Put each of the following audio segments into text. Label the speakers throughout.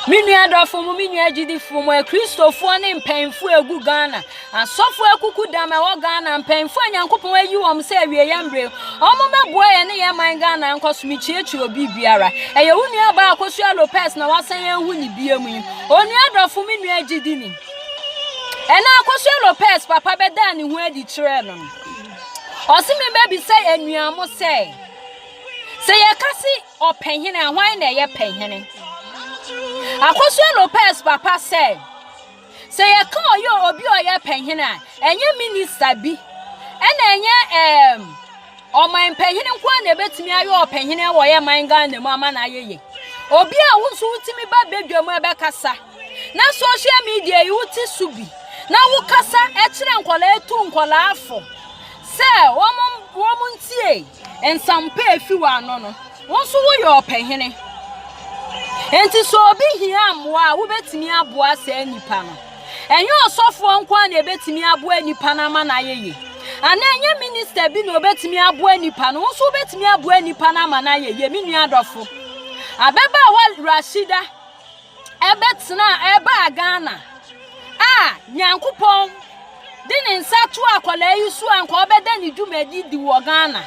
Speaker 1: Me nua dɔfo mo, me nua agyidifo mo, akristofoɔ ne mpanyinfoɔ egu Ghana, asɔfo akuku dam ɛwɔ Ghana, mpanyinfoɔ a Nyankopɔn ayi wɔn sɛ awie yɛn bere, wɔn bɛboa yɛn ne yɛn man Ghana nkɔ so. Mekyerɛkyerɛ obi biara. Ɛyɛ wo nua baa Akosua Lopez na wasan yɛn ho ne bia mu yi. Onua dɔfo, me nua agyidini. Ɛna Akosua Lopez papa bɛdaa ne ho adi kyerɛɛ no. Ɔse me bɛbisa yɛn nua mo sɛ, sɛ yɛka se Ɔpɛnhene a, hwan na ɛyɛ pɛnhene? Akosua Lopez papa sɛ, sɛ yɛka ɔyɛ obi a ɔyɛ pɛnhene a, ɛnyɛ minista bi, ɛna ɛnyɛ ɛɛm ɔman pɛnhene nko na ɛbɛtumi ayɛ ɔpɛnhene a wɔyɛ man Ghana mu ama na ayɛ yie. Obi a wo nso wotumi ba badwa mu ɛbɛkasa, na social media yi wote so bi, na wokasa ɛkyerɛ nkɔlaa ɛtu nkɔlaa fo sɛ wɔn wɔn ntie. Nsampa a efi w'ano no, wo nso woyɛ ɔpɛhene. Enti sɛ obi hia mmoa a, wubetumi aboa saa nipa no. Ɛnyɛ ɔsɔfoɔ nko ara na ebetumi aboa nipa no ama no ayɛ yie. Anaa ɛnyɛ minista bi na obetumi aboa nipa no, wo nso wubetumi aboa nipa no ama no ayɛ yie. Me nua adɔfo, ababaawa Rashida, ɛbɛtena a ɛbaa Ghana a Nyankopɔn de ne nsa to akwadaa yi so a nka ɔbɛda ne dwumadi di wɔ Ghana.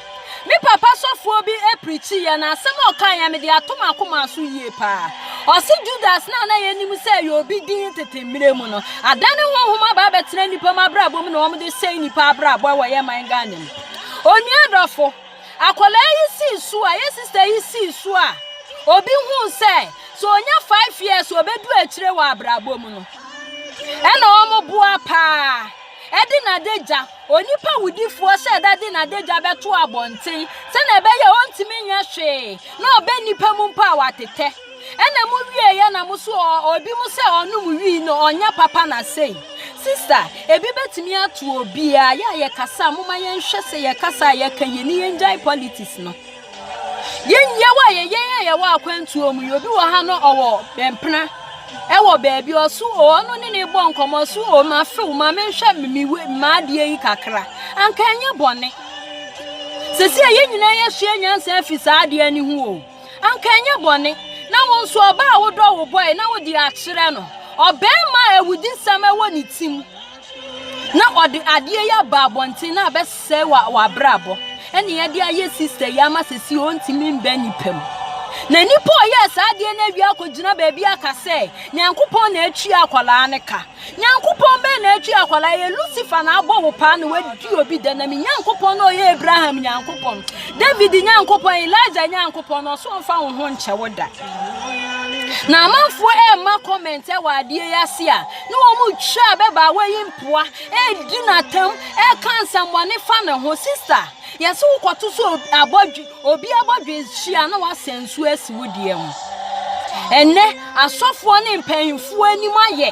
Speaker 1: Me papa sɔfoɔ bi aprikyi yɛ na asɛm a ɔka yɛ mede ato m'akoma so yie paa. Ɔse Judas no a na yɛnim sɛ ɛyɛ obi din tete mmerɛ mu no, adane honhom aba abɛtena nnipa mu abrabɔ mu na wɔde sɛe nnipa abrabɔ wɔ yɛ man Ghana mu. Onua dɔfo, Akwadaa yi sii so a, yɛ sista yi sii so a, obi huu sɛ, sɛ ɔnya five years a, ɔbɛdu akyire wɔ abrabɔ mu no. Ɛna wɔn boa paa. Ɛde n'adagya, onipa wudifoɔ sɛ ɛda de n'adagya bɛto abɔnten, sɛnea ɛbɛyɛ a ɔntumi nyɛ hwee, na ɔbɛ nnipa mu mpo a, watetɛ. Ɛna mo wieɛ na mo so obi mo sɛ ɔnom wii no ɔnyɛ papa na sei. Sister, ebi bɛtumi ato obiaa, yɛ a yɛ kasa a moma yɛn hwɛ sɛ yɛ kasa a yɛ ka yie ne yɛn gyae politics no. Yɛ nyɛ wɔ yɛ yɛn a yɛ wɔ akwantuo mu yi obi wɔ ha no ɔwɔ mpena ɛwɔ baabi ɔso o ɔno ne ne bɔ nkɔmɔ so o ma few ma me nhwɛ me we ma adeɛ yi kakra anka ɛnyɛ bɔne. Sɛsi a yɛ nyinaa yɛ sua nyansa afi saa adeɛ ne ho o. Anka ɛnyɛ bɔne na wo nso ɔbaa a wodɔ wo bɔe na wode akyerɛ no ɔbarima a awudisɛm wɔ ne tim na ɔde adeɛ yi aba abɔnten na abɛsɛe wa w'abrabɔ ɛne ɛde ayɛ sista yi ama sɛsi ɔntumi mbɛ nipa mu na nipa ɔyɛɛ saa adeɛ no awie akɔgyina baabi aka sɛ nyankopɔn na atua akwadaa no ka Nyankopɔn bɛn na atwi akwadaa yɛ Lucifer na abɔ wo paa na wadi obi dɛ na me Nyankopɔn na ɔyɛ Abraham Nyankopɔn David Nyankopɔn Elijah Nyankopɔn na ɔso ɔmfa wo ho nkyɛ wo da na amanfoɔ ɛrema comment ɛwɔ adeɛ yi ase a ne wɔn mu twa a bɛba a wɔyi mpoa ɛredi n'atam ɛreka nsɛmmɔne fa ne ho sista yɛse wokɔto so abɔdwe Obi abɔdwe hye a na wasɛn nsuo asi wo deɛ ho. Ɛnnɛ, asɔfoɔ ne mpanimfoɔ anim ayɛ.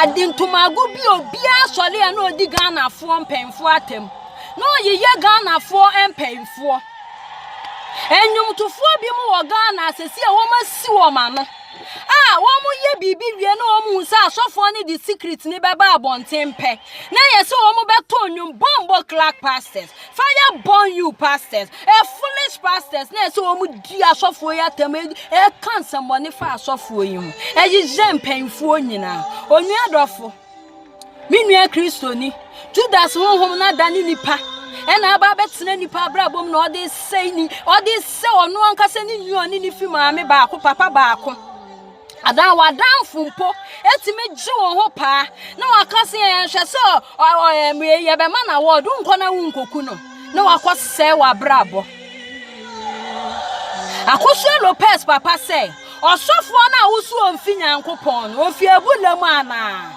Speaker 1: Ade ntomago bi obiara sɔre a na ɔdi Ghanafoɔ mpanimfoɔ atam. Na ɔyeyɛ Ghanafoɔ mpanimfoɔ. Nnwomtofoɔ bi mu wɔ Ghana a sɛsi a wɔasi wɔn ano. a wɔyɛ biribi wie na wɔn hu sɛ asɔfoɔ no de secret no bɛba abɔnten pɛ na yɛ sɛ wɔn bɛto nnwom bɔmbɔ clark pastors fire burn you pastors a foolish pastors na yɛ sɛ wɔn di asɔfoɔ yi atam ɛka nsɛmmɔne fa asɔfoɔ yi ho ɛyeyɛ mpanyinfoɔ nyinaa onua dɔfo. Me nua Kristoni, Judas honhom no ada ne nipa ɛna aba abɛtena nipa abrabɔ mu na ɔde sɛe ni ɔde sɛ ɔno ankasa ne nua ɔne ne fi maame baako papa baako adan wadanfo mpo etumi gye wɔn ho paa na waka sɛ yɛhwɛ sɛ yɛbɛma na wɔdo nkɔ na wo nkoku no na wakɔ sɛe w'abrabɔ. Akosua Lopez papa sɛ, ɔsɔfoɔ no a wosu ɔmfi Nyankopɔn no, ɔfi abula mu anaa?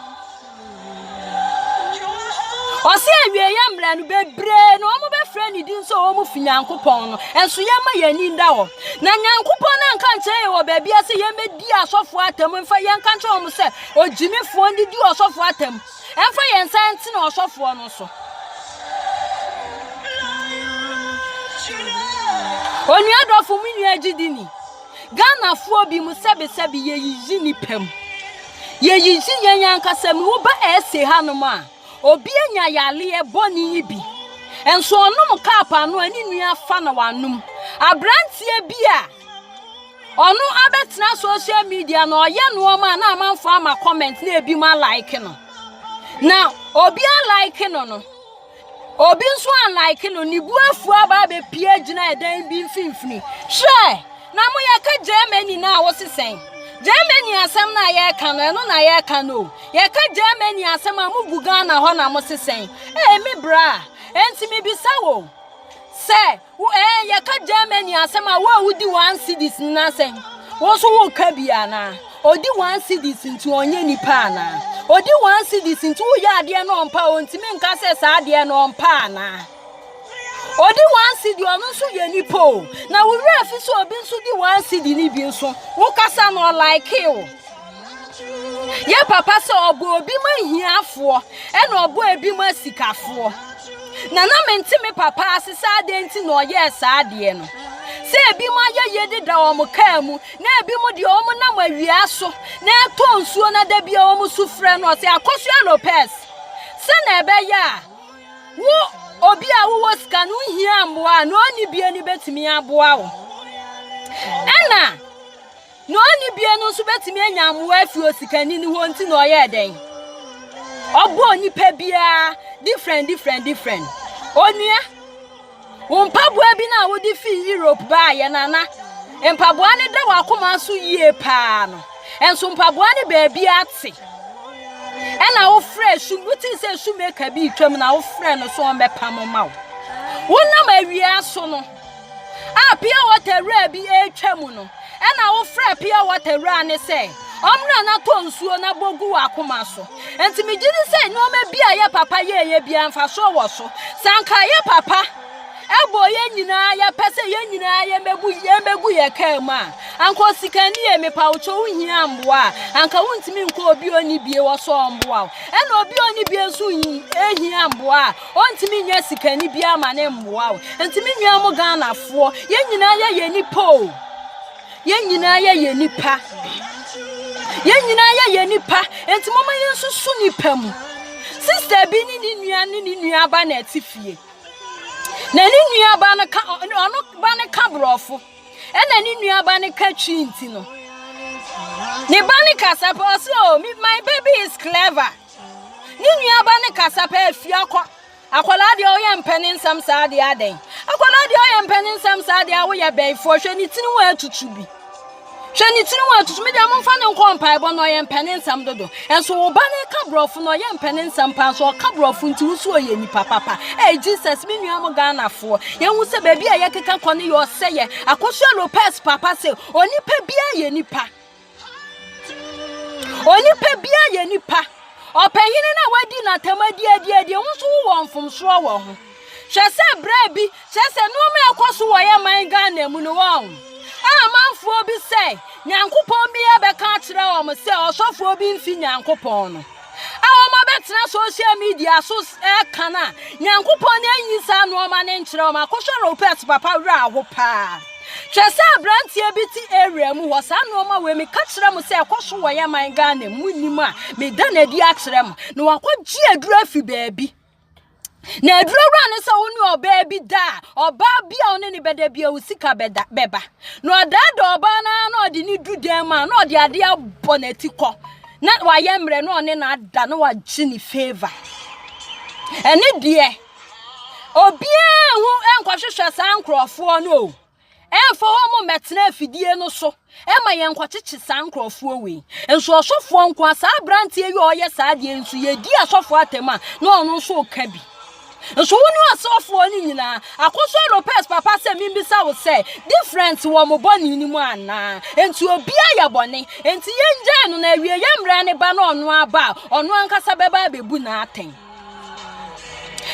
Speaker 1: Ɔsɛ awieɛ mmerɛ no bebree na wɔn bɛfrɛ ne din sɛ wɔn fi Nyankopɔn no, ɛnso yɛmma yɛn ani nda hɔ. Na Nyankopɔn no anka nkyerɛ yɛn wɔ baabi a sɛ yɛmmɛdi asɔfoɔ atam mfa yɛnka nkyerɛ wɔn sɛ, ɔgyimifoɔ no de di ɔsɔfoɔ atam. Ɛmfa yɛn nsa ntene ɔsɔfoɔ no so. Onua dɔfo mu nua gyidini, Ghanafoɔ bi mu sɛbesɛbe yɛyiyi nipa mu. Yɛyiyi yɛn ankasa mu. Woba ɛse hanom a, obi anya yareɛ bɔne yi bi. Nso ɔnom kaap ano a ne nua afa na wanom. Aberanteɛ bi a ɔno abɛtena social media na ɔyɛ nneɛma a na amanfo ama comment na ebi ma like no na obi a like no no obi nso a like no ne bu afu aba abɛpie gyina ɛdan bi mfimfini hwɛ na mo yɛka germany no a wose sɛn germany asɛm no a yɛreka no ɛno na yɛreka no o yɛka germany asɛm a mogu ghana hɔ na mo se sɛn ɛmi bra ɛnti mebisa wo sɛ Wo ɛɛ yɛka Germany asɛm a wo a wodi one cities no asɛm wo nso woka bi anaa? Odi one cities nti ɔnyɛ nipa anaa? Odi one cities nti woyɛ adeɛ no ɔmpa a ɔntumi nka sɛ saa adeɛ no ɔmpa anaa? Odi one city ɔno nso yɛ nipa o na wo werɛ fi sɛ obi nso di one city no bi nso wokasa no ɔlaekee o. Yɛ papa sɛ ɔbɔ obi ma hiafoɔ ɛna ɔbɔ ebi ma sikafoɔ. Na na mente me papa ase sɛ adɛn nti na ɔyɛɛ saa adeɛ no. Sɛ ebi mo ayɛyie deda wɔn kaa mu na ebi mo deɛ wɔn nam awia so na ɛtɔ nsuo na da bia wɔn su frɛ no ɔsɛ Akosua Lopez. Sɛ na ɛbɛyɛ a wo obi a wowɔ sika no hia mmoa a na ɔnni bie no bɛtumi aboa wo. Ɛna Nea onni bie no nso betumi anya mmoa afi osikani no hɔ nti na ɔyɛɛ dɛn? Ɔbɔɔ nipa biara different different different. Onua, wo mpaboa bi na wode fi Europe baa yɛ nana. Mpaboa no da w'akoma so yie paa no. Ɛnso mpaboa no baabi ate. Ɛna wofrɛ sum, wotii sɛ sumeka bi retwam na wofrɛ no so ɔmbɛpam ma wo. Wonam awia so no, A pure water wura bi retwa mu no, ɛna wofrɛ pure water wura no sɛ ɔmmra na tɔ nsuo na bɔ gu w'akoma so. Nti megye di sɛ nneɛma bi a yɛ papa yɛɛyɛ biara mfasoɔ wɔ so. Sɛ anka yɛ papa ɛbɔ yɛn nyinaa yɛpɛ sɛ yɛn nyinaa yɛbɛbu yɛbɛgu yɛ kaa mu a, anka osikani yɛ mepa wo kyɛ wohia mboa a, anka wontumi nkɔ obi ɔni bie wɔ sɛ ɔmboa wo. Ɛna obi ɔni bie nso hia mboa a, Ɔntumi nyɛ sikani biara ma ne mmoa wo. Nti me nua mo Ghanafoɔ, yɛn nyinaa yɛ yɛn nipa o. Yɛn nyinaa yɛ yɛn nipa. Yɛn nyinaa yɛ yɛn nipa. Nti mo ma yɛn nsusu nipa mu. Sista bi ne ne nua ne ne nua ba na ɛte fie. Na ne nua ba no ka ɔno ba no ka borɔfo. Ɛna ne nua ba no ka twi nti no. Ne ba no kasa pɛ ɔsɛ o oh, my baby is clever. Ne nuaba no kasa pɛ afie akɔ. Akwadaa deɛ ɔyɛ mpɛ ne nsɛm saa deɛ adɛn? Akwadaa deɛ ɔyɛ mpɛ ne nsɛm saa deɛ a woyɛ bɛyifoɔ hwɛ ne tiri wɔ atutu bi. Hwɛ ne tiri wɔ atutu mi deɛ momfa ne nkɔ mpaebɔ na ɔyɛ mpɛ ne nsɛm dodo. Ɛnso wo ba no ka borɔfo na ɔyɛ mpɛ ne nsɛm paa nso ɔka borɔfo nti wo so ɔyɛ nipa papa. Ɛɛ Jesus me nua mo Ghanafoɔ. Yɛhu sɛ baabi a yɛkeka kɔ no yɛ ɔsɛyɛ. Akosua Lopez papa sɛ onipa biara yɛ nipa. Onipa biara yɛ nipa. Ɔpanyin no a wadi n'atam adi adi adi ho nso wowɔ mfomsoɔ wɔ ho. Hwɛ sɛ berɛ bi kyerɛ sɛ nneɛma a ɛkɔ so wɔ yɛ man Ghana mu no wɔn a amanfoɔ bi sɛ Nyankopɔn biara bɛka akyerɛ wɔn sɛ ɔsɔfoɔ bi mfi Nyankopɔn no. a wɔabɛtena social media so ɛka no a nyankopɔn no anyi saa nnoɔma no nkyerɛ wɔn akɔhwɛ robert papa werɛ aho paa kyerɛ sɛ aberanteɛ bi te area mu hɔ saa nnoɔma wei meka kyerɛ mo sɛ ɛkɔ so wɔyɛ man ghana mu nnim a meda no adi akyerɛ mo na wakɔgye aduro afi baabi Na adurawura no sɛ wo ne ɔbaa bi da a, ɔbaa bi a wo ne ne bɛda bi a wo sika bɛda bɛba. Na ɔdaadaa ɔbaa no ara na ɔde ne du dan mu a na ɔde adeɛ abɔ n'ati kɔ. Na wayɛ mmerɛ na ɔne no ada na wagye ne favor. Ɛne deɛ, obiara ho nkɔhwehwɛ saa nkurɔfoɔ no o. Ɛmfa wɔn mmɛtena afidie no so ma yɛnkɔkyekye saa nkurɔfoɔ wei. Nso ɔsɔfoɔ nko a saa aberanteɛ yi a ɔyɛ saa deɛ nso yɛdi asɔfoɔ atam a na ɔno nso reka bi. Nso wo ne ɔsɔfoɔ no nyinaa akɔsɔ Lopez papa sɛ membisa wo sɛ different wɔ mo bɔne no mu anaa? Enti obiara yɛ bɔne. Enti yɛngyae no na awie yɛ mmara no ba na ɔno aba a ɔno ankasa bɛba abɛbu no atɛn.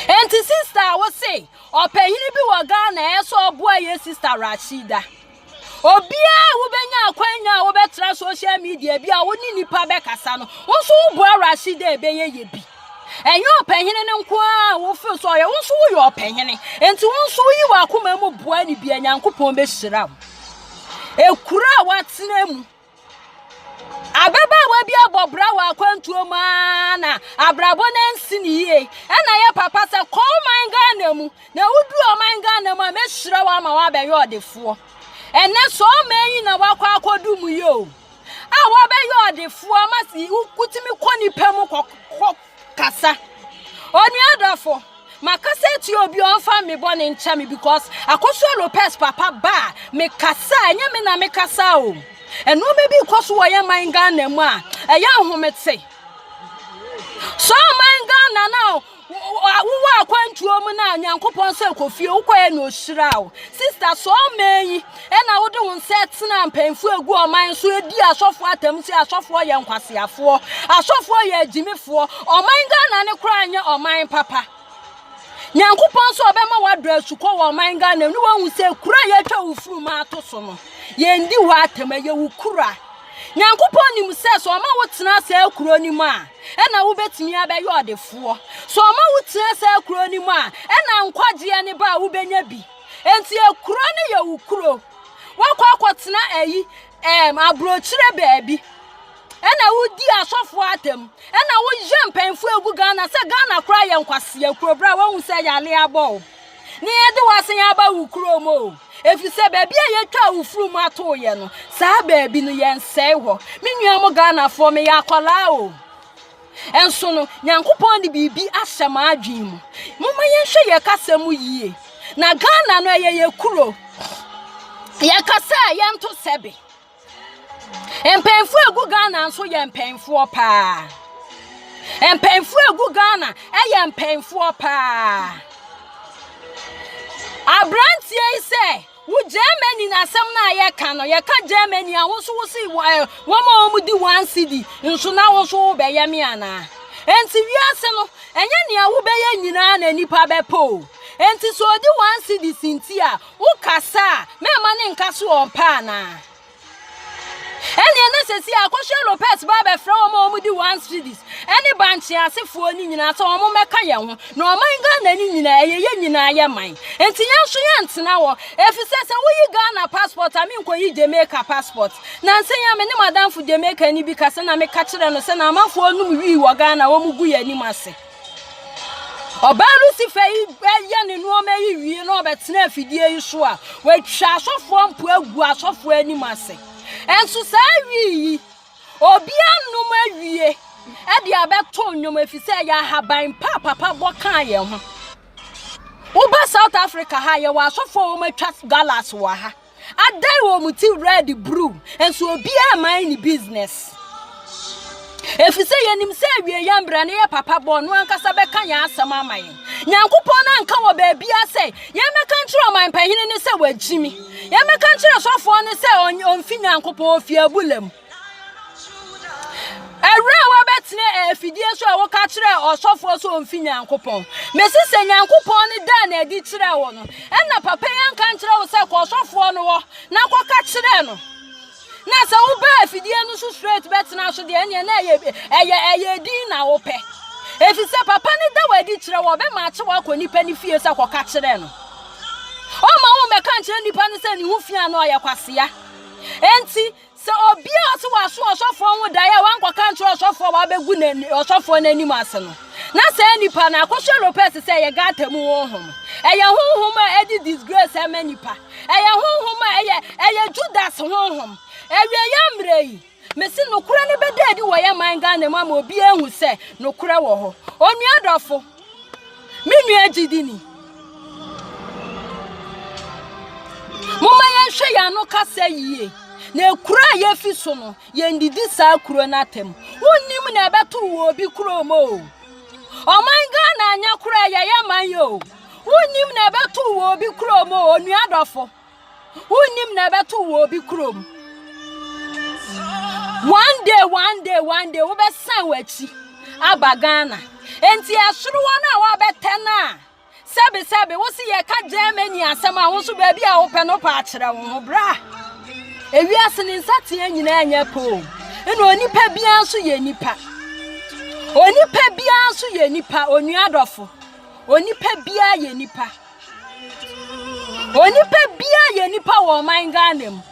Speaker 1: Enti sister a wo se Ɔpanyin bi wɔ Ghana a ɛsɛ ɔboa yɛ sista Rashida. Obiara a wobɛnya akwanya a wobɛtra social media bi a wo ne nipa bɛkasa no, wo nso woboa Rashida a ɛbɛyɛ yɛ bi. Ɛnyɛ ɔpɛhene no nko a wofil sɛ ɔyɛ, wo nso woyɛ ɔpɛhene. Enti wo nso woyi w'akoma mu boa ne bi a Nyankopɔn bɛhyira wo. Ekuro a woatena mu Ababaawa bi abɔ bra wɔ akwantuo mu ara na abrabɔ no ansi ne yie. Ɛna yɛ papa sɛ kɔ ɔman Ghana mu na woduru ɔman Ghana mu a mɛhyira wo ama woabɛyɛ ɔdefoɔ. Ɛnɛ sɛ ɔman yi na wakɔ akɔdu mu yi o a wabɛyɛ ɔdefoɔ ma wotumi kɔ nipa mu kɔ Kasa. Onua dɔfo, makasa atia obi a ɔmfa me bɔne nkyɛ me because Akosua Lopez papa ba a mekasa a ɛnyɛ me na mekasa o. Nneɛma bi kɔ so wɔ yɛn man Ghana mu a ɛyɛ ahomete. So man Ghana na wowɔ akwantuo mu na Nyankopɔn sɛ kɔ fie wokɔɛ na ɔhyira wo. Sister so ɔman yi Ɛna wode wo nsa tenaa mpanyimfo a egu ɔman so di asɔfoɔ atam sɛ asɔfoɔ yɛ nkwaseafoɔ, asɔfoɔ yɛ agyimifoɔ, ɔman Ghana no koraa nyɛ ɔman papa. Nyankopɔn sɛ ɔbɛma woadɔ asukɔ wɔ ɔman Ghana mu ne woahu sɛ kura a yɛatwa wo funuma ato so no, yɛndi hɔ atam, ɛyɛ wo kura. Nyankopɔn nim sɛ sɛ ɔma wotena saa kuro no mu a, ɛna wobɛtumi abɛyɛ ɔdefoɔ. Sɛ ɔma wotena saa kuro no mu a, ɛna nkwagyeɛ ne ba a wobɛnya bi. Enti ekuro no yɛ wo kuro. Woakɔ akɔtena ayi ɛɛm aburokyire baabi. Ɛna wodi asɔfoɔ atam. Ɛna woyɛ mpanyinfoɔ egu Ghana sɛ Ghana koraa yɛ nkwaseɛ kuro bra woahu sɛ yale abɔ wo. Ne yɛde wasan aba wo kuro mu o. Efi sɛ baabi a yɛtwa wo furu mu atoo yɛ no saa baabi no yɛnsɛe hɔ. Me nua mo Ghanafoɔ meyɛ akwadaa o. Nso no, Nyankopɔn de biribi ahyɛ m'adwene mu. Momma yɛnhwɛ yɛn kasa mu yie. Na Ghana no ɛyɛ yɛ kuro. Yɛn kasa a yɛnto sɛbe. Mpanyinfoɔ egu Ghana nso yɛ mpanyinfoɔ paa. Mpanyinfoɔ egu Ghana ɛyɛ mpanyinfoɔ paa. Aberanteɛ yi sɛ. Wo Germany na asɛm no a yɛka no yɛka Germany a wo nso wo se wɔn a wɔn di one cedi nso na wo nso wobɛyɛ me anaa enti wiase no ɛnyɛ nea wobɛyɛ nyinaa na nipa bɛpɛ o enti sɛ ɔdi one cedi si nti a wokasa a mɛma ne nka so ɔmpɛ anaa Ɛnneɛ na sɛsi a Akosua Lopez ba abɛfrɛ wɔn a wɔdi one cities ɛne bankye asefoɔ no nyinaa sɛ wɔn mmɛka yɛn ho na ɔman Ghana no nyinaa ɛyɛ yɛn nyinaa yɛ man nti yɛn nso yɛn ntena hɔ efisɛ sɛ woyi Ghana passport a menkɔyi Jamaica passport na nsɛ yi a me ne madamfo Jamaica ni bi kasa na meka kyerɛ no sɛ na amanfoɔ nom wii wɔ Ghana wɔn gu yɛn anim ase Ɔbaa no si fɛ yi yɛ ne nneɛma yi wie na ɔbɛtena afidie yi so a, watwa asɔfoɔ mpo agu asɔfoɔ anim ase. Nso saa awi yi, obi anom awie de abɛto nnwom ɛfiri sɛ yɛ ahaban pa a papa bɔ kaa yɛn ho. Woba South Africa ha yɛwɔ asɔfoɔ a wɔatwa galas wɔ ha. adan wɔn ti red bruu nso obiara mman ne business ɛfiri sɛ yɛnim sɛ awie yɛ mbra ne yɛ papa bɔ ɔno ankasa bɛka yɛn asɛm ama yɛn nyankopɔn no anka wɔ baabia sɛ yɛmmɛka nkyerɛ ɔman pahene ne sɛ wagyimi yɛmmɛka nkyerɛ sɔfoɔ no sɛ ɔmfi nyankopɔn ɔfi abula mu Ɛberɛ a wɔbɛtene afidie so a woka kyerɛ ɔsɔfoɔ sɛ ɔmfi Nyankopɔn. Mese sɛ Nyankopɔn no daa no adi kyerɛɛ wo no, ɛna papa yi anka nkyerɛ wo sɛ kɔ ɔsɔfoɔ no hɔ na kɔka kyerɛ no. Na sɛ woba afidie no so straight bɛtena so deɛ ɛneɛ na ɛyɛ ɛyɛ ɛyɛ din na wopɛ. Ɛfiri sɛ papa no da wo adi kyerɛ wo ɔbɛma akye wakɔ nipa no fie sɛ kɔka kyerɛ no. Ɔma wo mɛka nkyerɛ nipa no sɛ ne ho fia no ɔyɛ kwasea. Enti Sɛ obi a ɔse waso ɔsɔfoɔ ho daeɛ a wankɔka nkyerɛ ɔsɔfoɔ a wabɛgu n'ani ɔsɔfoɔ n'anim ase no, na saa nipa no akɔhyɛ lopez sɛ ɛyɛ gata mu honhom. Ɛyɛ honhom a ɛde disgrace ɛma nipa. Ɛyɛ honhom a ɛyɛ ɛyɛ Judas honhom. Awieeɛ mmerɛ yi, mese nokorɛ no bɛda adi wɔ yɛn man Ghana mu ama obiara ahu sɛ nokorɛ wɔ hɔ. Onua dɔfo, Me nua gyidi ni. Momma yɛnhwɛ yɛn ano kasa yie. Na kuro a yɛfi so no, yɛndidi saa kuro no atam. Wonnim na ɛbɛto wɔ obi kurom o. Ɔman Ghana nyɛ koro a yɛyɛ man yi o. Wonnim na ɛbɛto wɔ obi kurom o, onua dɔfo. Wonnim na ɛbɛto wɔ obi kurom. One day, one day, one day, wobɛsan w'akyi aba Ghana. Enti ɛsoro wɔn a wɔabɛtɛ no a, sɛbesɛbe, wo se yɛka Germany asɛm a, wo nso baabi a wopɛ no pɛ akyerɛ wo ho. Bra! Ewiase ne nsateɛ nyinaa nyɛ pɛ o. Ɛna onipa biara nso yɛ nipa. Onipa biara nso yɛ nipa, onua dɔfo. Onipa biara yɛ nipa. Onipa biara yɛ nipa wɔ ɔman Ghana mu.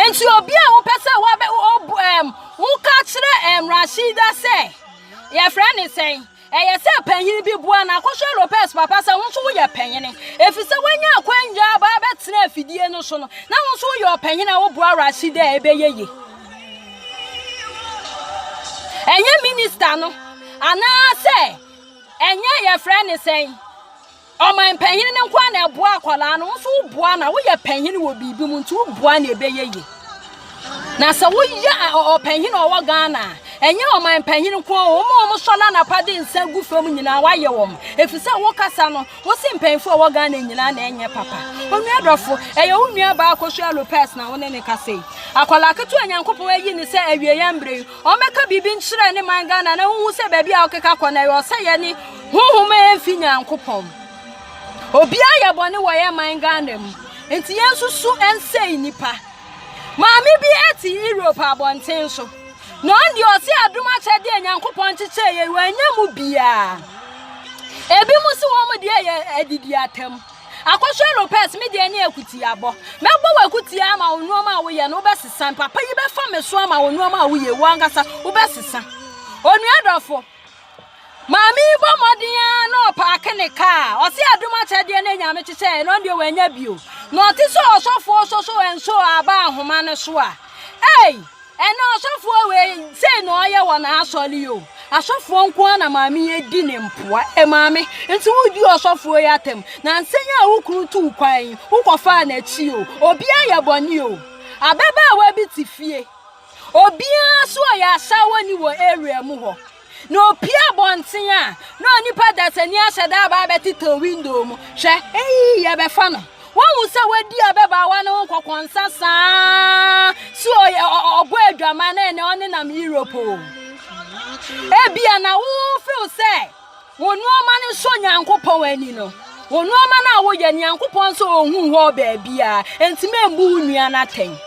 Speaker 1: Nti obi a wopɛ sɛ wabɛ wobu ɛm woka kyerɛ ɛm Rashida sɛ yɛfrɛ ne sɛn ɛyɛ sɛ panyin bi boa na akɔhwɛ Lopez papa sɛ wo nso woyɛ panyin efi sɛ wanya akwanya aba abɛtena afidie no so no na wo nso woyɛ ɔpanyin a woboa Rashida a ɛbɛyɛ yie. ɛnyɛ minista no anaasɛ Ɛnyɛ yɛfrɛ ne sɛn? Ɔman panyin no nkoa na ɛboa akwadaa no, wo nso woboa na woyɛ panyin wɔ biribi mu nti woboa na ɛbɛyɛ ye. Na sɛ woyɛ ɔpanyin a ɔwɔ Ghana a, ɛnyɛ ɔman panyin nkoa o, wɔn a wɔn sɔ n'anapa de nsa gu fam nyinaa wayɛ wɔn. Efisɛ wo kasa no, wo se mpanyinfo a ɛwɔ Ghana nyinaa na ɛnyɛ papa. Onua dɔfo, ɛyɛ wo nua baa Akosua Lopez na wo ne ne kasa yi. Akwadaa ketewa Nyankopɔn ayi ne sɛ awieyɛ mbre yi, Ɔmmɛka biribi nkyerɛ ne man Ghana na honhu sɛ baabi a ɔkeka kɔ no ɛyɛ ɔsɛeɛ ne honhom a ɛmfi Nyankopɔn. Obiara yɛ bɔne wɔ yɛn man Ghana mu nti yɛnsusu nsɛe nnipa. Maame bi te Europe abɔnten so na ɔn deɛ ɔse adom akyɛdeɛ a Nyankopɔn kyekyɛɛ yɛn wɔanya mu biara. Ebinom se wɔn deɛ yɛ adidi atam. Akɔhwɛ no pɛs, me deɛ ne akutiabɔ. Mɛbɔ wo akutia ama wo nnoɔma a woyɛ no wobɛsesa. Papa yi bɛfa me so ama wo nnoɔma a woyɛ wo ankasa wobɛsesa. Onua dɔfo, maame yi bɔ mmɔden ara na ɔpaake ne kaa. Ɔse adom akyɛdeɛ ne nyame kyekyɛɛ no deɛ wanya bio. Na ɔte sɛ ɔsɔfoɔ sɔ so ɛnso aba ahoma no so a. Ei! Ɛnna ɔsɔfoɔ wei, sei na ɔyɛ wɔ n'asɔre yi o. Asɔfoɔ nko ara na maame yi adi ne mpoa. E maame, nti wodii ɔsɔfoɔ yi atɛm, na nsɛ yi a wo kunu tuu kwan yi, wokɔfaa n'akyi o. Obiara yɛ bɔne o. Ababaawa bi te fie. Obiara nso ɔyɛ asaawani wɔ area mu hɔ. Na opue abɔnten a, na onipa dasani ahyɛ da aba abɛtetɛw window mu. Hwɛ, eyi yɛbɛfa no. Woahu sɛ wadi ababaawa no ho nkɔkɔnsa saa sɛ ɔyɛ ɔbɔ adwaman na ɛnɛ ɔnenam Europe o. Ebia na wofew sɛ wo nneɛma no sɔ Nyankopɔn ani no. Wo nneɛma no a woyɛ Nyankopɔn nso ohu hɔ baabiara. Enti membu wo nua no atɛn.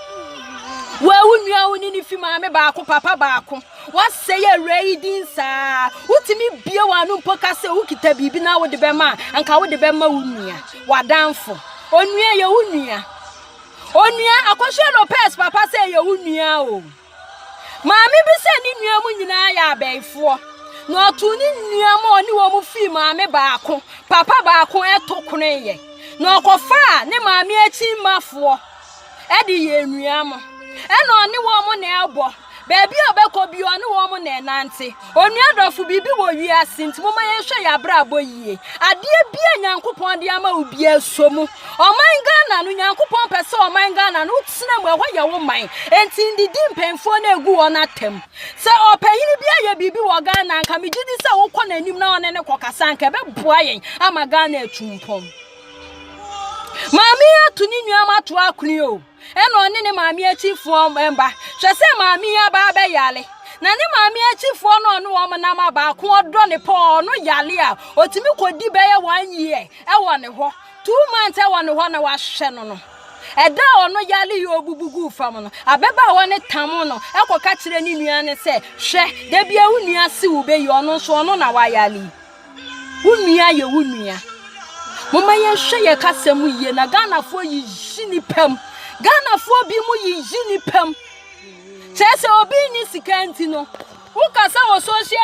Speaker 1: Wo a wo nua wo ne ne fi maame baako, papa baako. Woasɛe awuraa yi din saa. Wotumi bue w'ano mpo ka sɛ wokita biribi na wode bɛma a, anka wode bɛma wo nua, w'adamfo. Onua yɛ wo nua. Onua Akosua Lopez papa sɛ yɛ wo nua o. Maame bi sɛ ne nua mu nyinaa yɛ abɛɛfoɔ. Na ɔtoo ne nua ma ɔne wɔn fii maame baako, papa baako ɛto konoyɛ. Na ɔkɔfaa ne maame akyi mmafoɔ. de yɛ anuanom. Ɛna ɔne wɔn na ɛbɔ. Baabi a ɔbɛkɔ bi ɔne wɔn na ɛnante. Onua dɔfo, biribi wɔ wiase nti momma yɛnhwɛ yɛn abrabɔ yie. Adeɛ bi a Nyankopɔn de ama wo biara sɔ mu. Ɔman Ghana no, Nyankopɔn pɛ sɛ ɔman Ghana no wotena mu, ɛhɔ yɛ wo man. Enti ndidi mpanyinfoɔ no egu wɔn atam. Sɛ ɔpanyin bi ayɛ biribi wɔ Ghana a, nka megye di sɛ wokɔ n'anim na ɔne no kɔkasa a, nka ɛbɛboa yɛn ama Ghana atu mpɔn. Maame yi atu ne nua ma to akone o. Ɛna ɔne ne maame akyifoɔ mba. Hwɛ sɛ maame yi aba abɛyale. Na ne maame akyifoɔ no ɔne wɔn nam a baako ɔdɔ ne paa ɔno yale a ɔtumi kɔdi bɛyɛ one year ɛwɔ ne hɔ. Two months ɛwɔ ne hɔ na wahwɛ no no. Ɛda a ɔno yale yi ɔbubu guu fam no, ababaawa no tam no ɛkɔka kyerɛ ne nua no sɛ, hwɛ, da bi a wo nua se wo bɛyi ɔno nso ɔno na wayale yi. Wo nua yɛ wo nua. Momma yɛnhwɛ yɛn kasa mu yie na Ghanafoɔ yiyi nipa mu. Ghanafoɔ bi mu yiyi nipa mu. Kyerɛ sɛ obi nni sika nti no, wokasa wɔ social